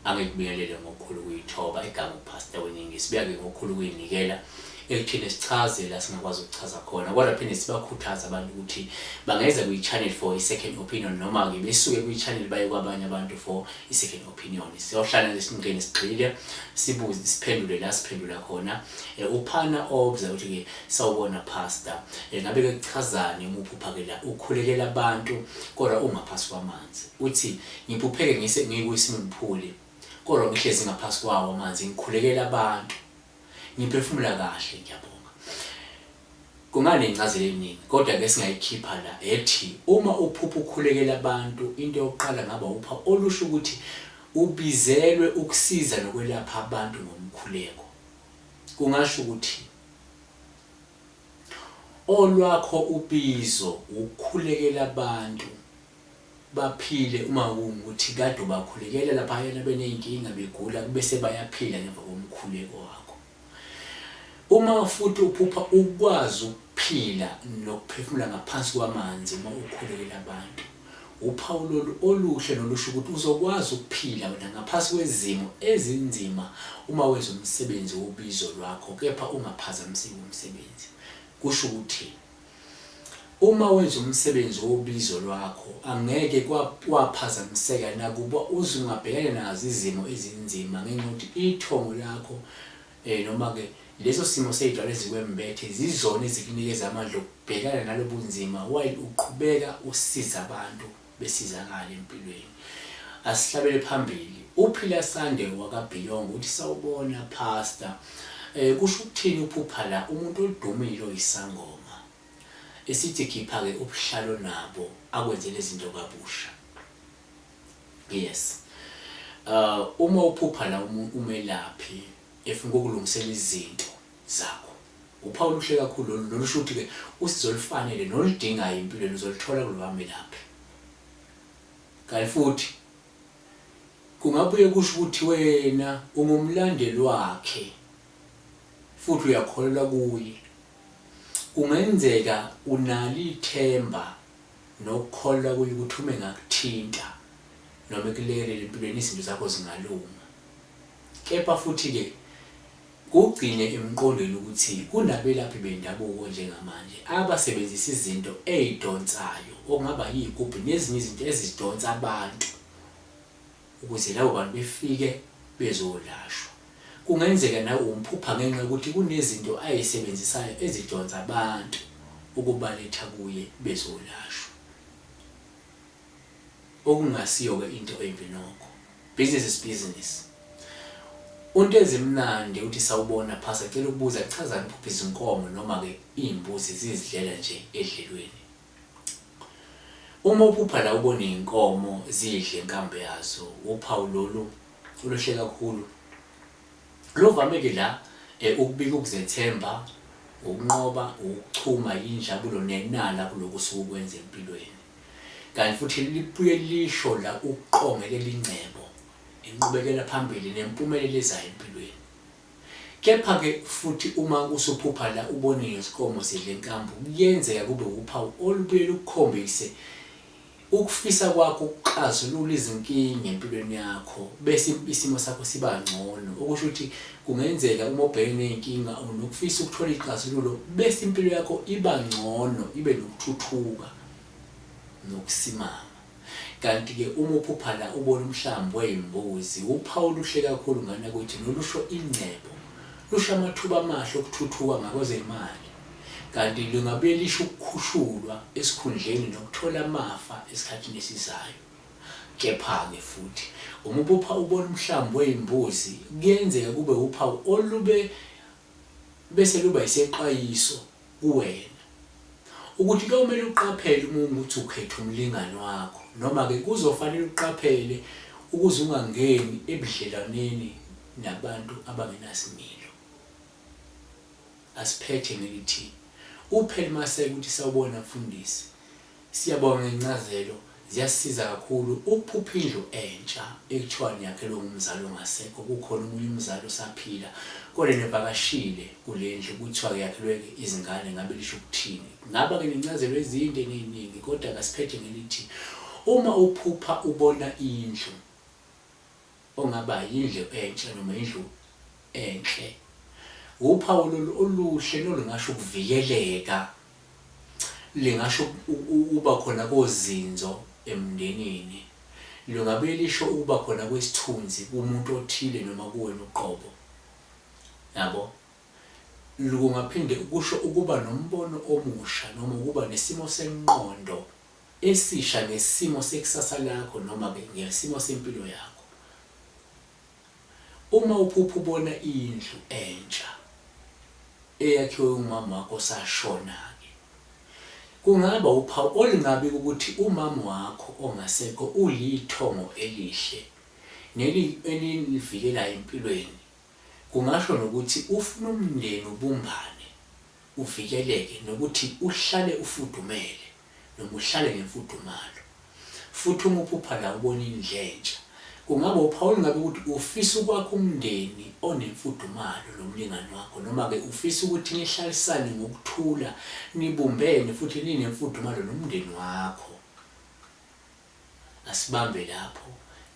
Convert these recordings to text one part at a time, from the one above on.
angikubiyelele ngokukhulu kuyithoba igama upastor weningi sibiyake ngokukhulu kuyinikela ekuthini sichaze la singakwazi ukuchaza khona kodwa phinde sibakhuthaza abantu ukuthi bangeza kwi-channel for i-second opinion noma-ke besuke kwi-channel baye kwabanye abantu for i-second opinion siyohlala lesimngeni sigxile sibuze siphendule la siphendula khona eh, uphana obza ukuthi ke sawubona pastor eh, ngabe ke kuchazani uma uphuphakela ukhulekela abantu kodwa ungaphasi kwamanzi uthi ngiphupheke ngise ngikwisimphuli kodwa ngihlezi ngaphasi kwawo amanzi ngikhulekela abantu Ngiphefumula kahle ngiyabonga. Kunganencazelo eningi kodwa ke singayikhipha la ethi uma uphupha ukhulekela abantu into yokuqala ngaba upha olusho ukuthi ubizelwe ukusiza nokwelapha abantu ngomkhuleko. Kungasho ukuthi olwakho ubizo ukukhulekela abantu baphile uma kungukuthi kade ubakhulekela laphayana beney'nkinga begula kube sebayaphila ngemva komkhuleko wakho uma futhi uphupha ukwazi ukuphila nokuphefumula ngaphansi kwamanzi uma ukhulekela abantu uphawu lolu oluhle nolusho ukuthi uzokwazi ukuphila wena ngaphansi kwezimo ezinzima uma wenza umsebenzi wobizo lwakho kepha ungaphazamiseki umsebenzi kusho ukuthi Uma wenza umsebenzi wobizo lwakho, angeke kwa, waphazamiseka, nakuba uze ungabhekana nazo izimo ezinzima, ngenxa yokuthi ithongo lakho, eh, noma-ke leso simo sey'dwala ezikwembethe, zizona ezikunikeza amandla okubhekana nalobunzima while uqhubeka usiza abantu. besizakale empilweni. Asihlabele phambili. Uphila Sande wakabhilongo uthi sawubona pastor. Eh kusho ukuthini uphupha la umuntu odumile oyisangoma. Esithi khipha ke ubuhlalo nabo akwenze lezinto kabusha. Yes. Uh uma uphupha la umelaphi efuna ukulungisela izinto zakho. Uphawu oluhle kakhulu lolu nolusho ukuthi-ke usizo olufanele noludingayo empilweni uzoluthola kulo bamelaphi. Kanti futhi kungabuye kusho ukuthi wena ungumlandeli wakhe futhi uyakholelwa kuye. Kungenzeka unalo ithemba nokukholelwa kuye ukuthi uma engakuthinta noma ekulekelela empilweni izinto zakho zingalunga. Kepha futhi-ke Kugcine emqondweni ukuthi kunabelaphi bendabuko njengamanje abasebenzisa izinto ey'donsayo okungaba yiy'gubhu nezinye izinto ezidonsa abantu ukuze labo bantu befike bezolashwa. Kungenzeka nawe umphupha ngenxa yokuthi kunezinto ay'sebenzisayo ezidonsa abantu ukubaletha kuye bezolashwa. okungasiyo-ke into embi nokho. Business is business. UNtezimnandi uthi sawubona Pastor cela ukubuza kuchazani ukuphupha izinkomo noma ke izimbuzi zizidlela nje edlelweni. Uma uphupha la ubona izinkomo zidle inkambe yazo uphawu lolu oluhle kakhulu. Lovame ke la eh, ukubika ukuzethemba, ukunqoba, ukuchuma, injabulo nenala kuloku suku kwenza empilweni. Kanti futhi libuye lisho la ukuqongelela ingcebo, inqubekela phambili nempumelelo ezayo empilweni. Kepha-ke futhi uma usuphupha la ubone ngezinkomo zidla inkambu kuyenzeka kube wuphawu olubuye lukukhombise ukufisa kwakho ukuxazulula izinkinga empilweni yakho bese isimo sakho siba ngcono okusho ukuthi kungenzeka uma ubhekene nezinkinga unokufisa ukuthola ixazululo bese impilo yakho iba ngcono ibe nokuthuthuka nokusimama. Kanti ke uma uphupha la ubona umhlambi weyimbuzi uphawu oluhle kakhulu ngana kwethi nolusho ingcebo. Lusho amathuba amahle okuthuthuka ngakwezemali kanti lingabuye lisho ukukhushulwa esikhundleni nokuthola amafa esikhathini esizayo. Kepha ke futhi uma uphupha ubona umhlambi weyimbuzi kuyenzeka kube uphawu olube bese luba isexwayiso kuwena. Ukuthi kuyomele uqaphele uma ungukuthi ukhetha umlingani wakho noma-ke kuzofanele uqaphele ukuze ungangeni ebudlelwaneni nabantu abangenasimilo. Asiphethe ngelithi, Uphel Maseko uthi sawubona mfundisi. Siyabonga ngencazelo ziyasisiza kakhulu ukuphupha indlu entsha ekuthiwa niyakhelwe ngumzali ongasekho kukhona omunye umzali osaphila kodwa nivakashile kule ndlu kuthiwa yakhelwe izingane ngabe lisho ukuthini ngaba ke nencazelo ezinde neziningi kodwa kasiphethe ngelithi uma uphupha ubona indlu ongaba yindlu entsha noma indlu enhle, wuphawu lolu oluhle nolungasho ukuvikeleka, lingasho ukuba khona kozinzo emndenini, lungabuye lisho ukuba khona kwesithunzi kumuntu othile noma kuwena uqobo. Nabo? Kungaphinde kusho ukuba nombono omusha noma ukuba nesimo senqondo esisha ngesimo sekusasa lakho noma ke ngesimo sempilo yakho. Uma uphupha ubona indlu entsha eyakhiwe umama wakho osashona ke kungaba uphawu olungabi ukuthi umama wakho ongasekho ulithongo elihle neli elinivikelayo empilweni kungasho nokuthi ufuna umndeni ubumbane uvikeleke nokuthi uhlale ufudumele. noma uhlale ngemfudumalo. Futhi uma uphupha la ubona indlentsha, kungaba uphawu olungabe ukuthi ufisa ukwakha umndeni onemfudumalo nomlingani wakho noma-ke ufisa ukuthi nihlalisane ngokuthula, nibumbene futhi ninemfudumalo nomndeni wakho. Asibambe lapho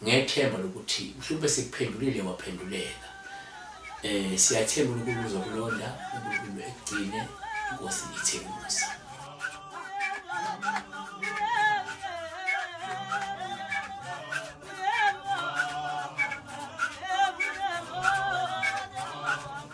ngethemba lokuthi mhlwumpe sikuphendulile waphenduleka. Eh siyathemba uNkulunkulu uzokulonda, uNkulunkulu ekugcine, iNkosi ithe musa.